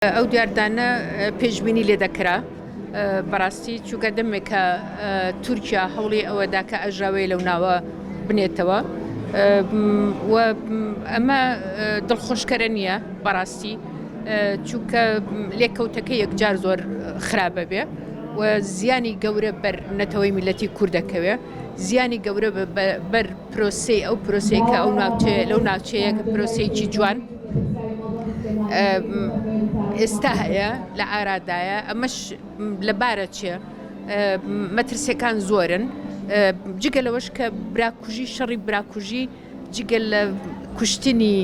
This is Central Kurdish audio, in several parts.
ئەو دیاردانە پێشبینی لێ دەکرا بەڕاستی چووکە دەمێکە تورکیا هەوڵی ئەوەدا کە ئەژاوەیە لەو ناوە بنێتەوە ئەمە دڵخۆشکەرە نییە بەڕاستی چووکە لێکەوتەکە یەکجار زۆر خراپە بێ و زیانی گەورە بەر نەتەوەی میلەتی کوردەکەوێ زیانی گەورە بەر پرۆسەی ئەو پرۆسەی کە ئەو ناوچەیە لەو ناوچەیە کە پرۆسەیەکی جوان ئێستا هەیە لە ئارادایە ئەمەش لەبارە چێ مەترسیەکان زۆرن جگە لەوەش کە براکوژی شەڕی براکوژی جگەل لە کوشتنی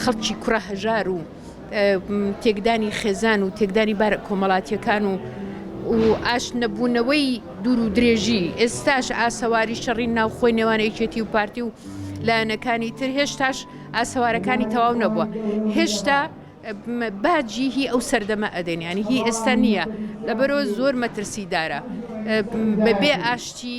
خەڵکی کوڕە هەژار و تێکدانی خێزان و تێکدانی بارە کۆمەڵاتیەکان و و ئاش نەبوونەوەی دوور و درێژی ئێستاش ئاسەواری شەڕی ناوخۆی نێوان یەکێتی و پارتی و لایەنەکانی تر هێشتاش ئاسەوارەکانی تەواو نەبووە هێشتا باجی هی ئەو سەردەمە ئەدەنیانی هی ئێستا نییە لەبەرەوە زۆر مەترسی دارە بەبێ ئاشتی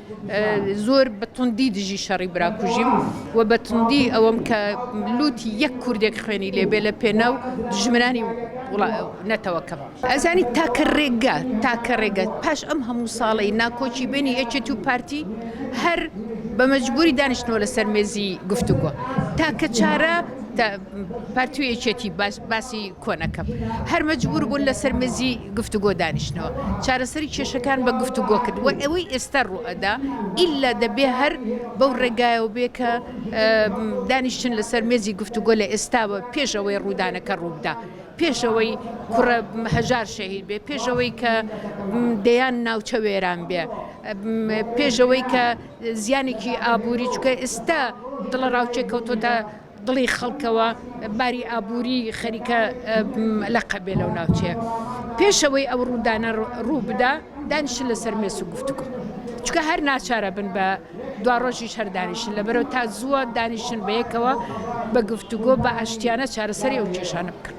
زۆر بە توندی دژی شەڕی براکوژیم و بە توندی ئەوەم کە لوتی یەک کوردێک خوێنی لێبێ لە پێناو دژمنانی نەتەوەکەم ئەزانی تاکە ڕێگە تاکە ڕێگە پاش ئەم هەموو ساڵی ناکۆکی بینی یەکێت و پارتی هەر بە مەجبوری دانیشتنەوە لەسەر مێزی گفتوگۆ تاکە چارە پارتی و یەکێتی باسی کۆنەکەم هەر مەجبور بوون لەسەر مێزی گفتوگۆ دانیشتنەوە چارەسەری کێشەکان بە گفتوگۆ کرد و ئەوەی ئێستا ڕوئەدا ئیلا دەبێ هەر بەو ڕێگایەوە بێ کە دانیشتن لەسەر مێزی گفتوگۆ لە ئێستاوە پێش ئەوەی ڕوودانەکە ڕووبدا پێشەوەی کوڕە هەژار شەهید بێ پێشەوەی کە دەیان ناوچە وێران بێ پێشەوەی کە زیانێکی ئابووری چکە ئێستا دڵە ڕاوچێکەوتۆتە دڵی خەڵکەوە باری ئابووری خەریکە لەقە بێ لەو ناوچەیە پێشەوەی ئەو ڕوودانە ڕوو بدا دانیشن لەسەر مێس و گفتوگۆ چکە هەر ناچارە بن بە دوا ڕۆژی شەر دانیشن لە بەرەو تا زووە دانیشن بەیەکەوە بە گفتوگۆ بە ئاشتیانە چارەسەری ئەو کێشانە بکەن.